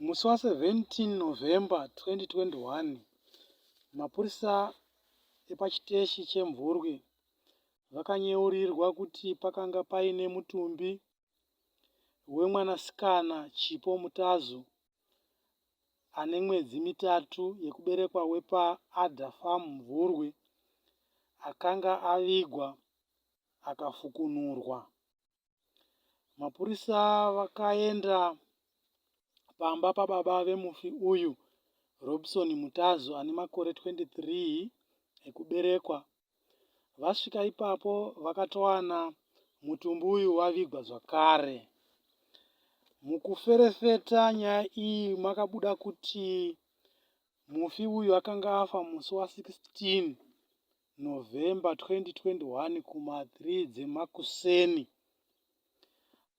Musi wa 17 November 2021, mapurisa epachiteshi cheMvurwi vakanyeurirwa kuti pakanga paine mutumbi wemwanasikana Chipo Mutazu ane mwedzi mitatu yekuberekwa wepa Adder Farm Mvurwi akanga avigwa akafukunurwa. Mapurisa vakaenda pamba pababa vemufi uyu, Robson Mutazu ane makore 23 ekuberekwa. Vasvika ipapo vakatowana mutumbi uyu wavigwa zvakare. Mukuferefeta nyaya iyi makabuda kuti mufi uyu akanga afa musi wa 16 November 2021 kuma 3 dzemakuseni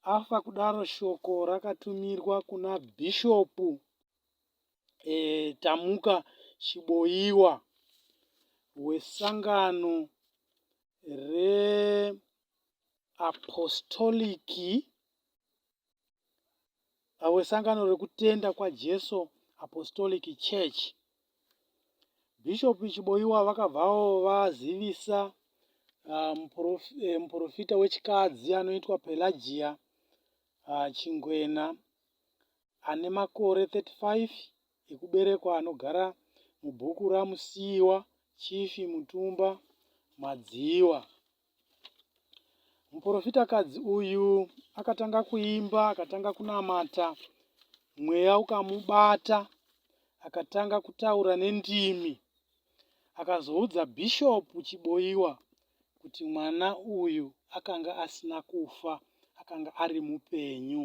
afa kudaro shoko rakatumirwa kuna bhishopu e, Tamuka Chiboiwa wesangano reapostoliki vawesangano rekutenda kwajesu apostolic church bishop chiboiwa vakabvawo vazivisa ah, eh, muprofita wechikadzi anoitwa pelagia ah, chingwena ane makore 35 ekuberekwa anogara mubhuku ramusiiwa chifi mutumba madziwa Muprofitakadzi uyu akatanga kuimba, akatanga kunamata, mweya ukamubata, akatanga kutaura nendimi. Akazoudza Bishop Chiboiwa kuti mwana uyu akanga asina kufa, akanga ari mupenyu.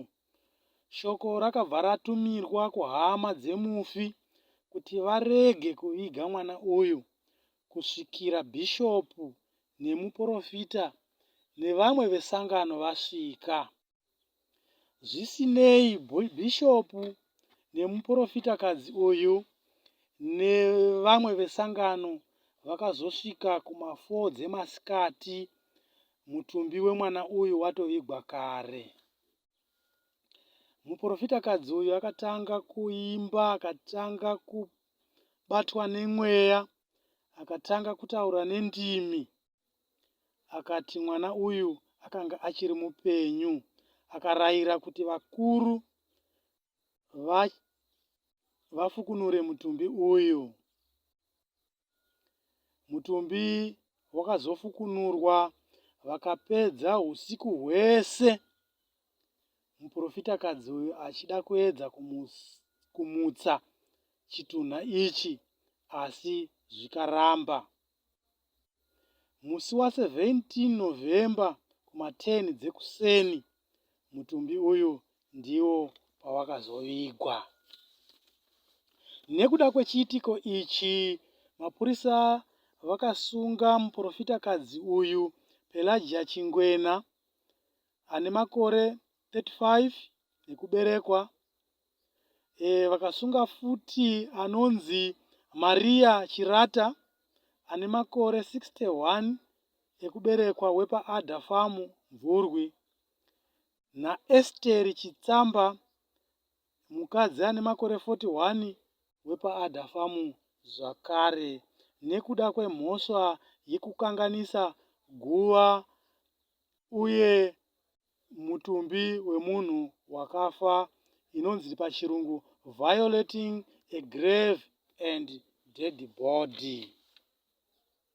Shoko rakabva ratumirwa kuhama dzemufi kuti varege kuviga mwana uyu kusvikira bhishopu nemuporofita nevamwe vesangano vasvika. Zvisinei, bhishopu nemuprofitakadzi uyu nevamwe vesangano vakazosvika kuma4 dzemasikati mutumbi wemwana uyu watovigwa kare. Muprofitakadzi uyu akatanga kuimba, akatanga kubatwa nemweya, akatanga kutaura nendimi. Akati mwana uyu akanga achiri mupenyu. Akarayira kuti vakuru vafukunure mutumbi uyu. Mutumbi wakazofukunurwa vakapedza usiku hwese muprofitakadzi uyu achida kuedza kumutsa chitunha ichi asi zvikaramba. Musi wa 17 November kuma 10 dzekuseni mutumbi uyu ndiwo pawakazovigwa. Nekuda kwechiitiko ichi, mapurisa vakasunga muprofitakadzi uyu Pelagia Chingwena ane makore 35 ekuberekwa e, vakasunga futi anonzi maria chirata ane makore 61 ekuberekwa wepaada famu mvurwi naesteri chitsamba mukadzi ane makore 41 wepaada famu zvakare nekuda kwemhosva yekukanganisa guva uye mutumbi wemunhu wakafa inonzi pachirungu violating a grave and dead body.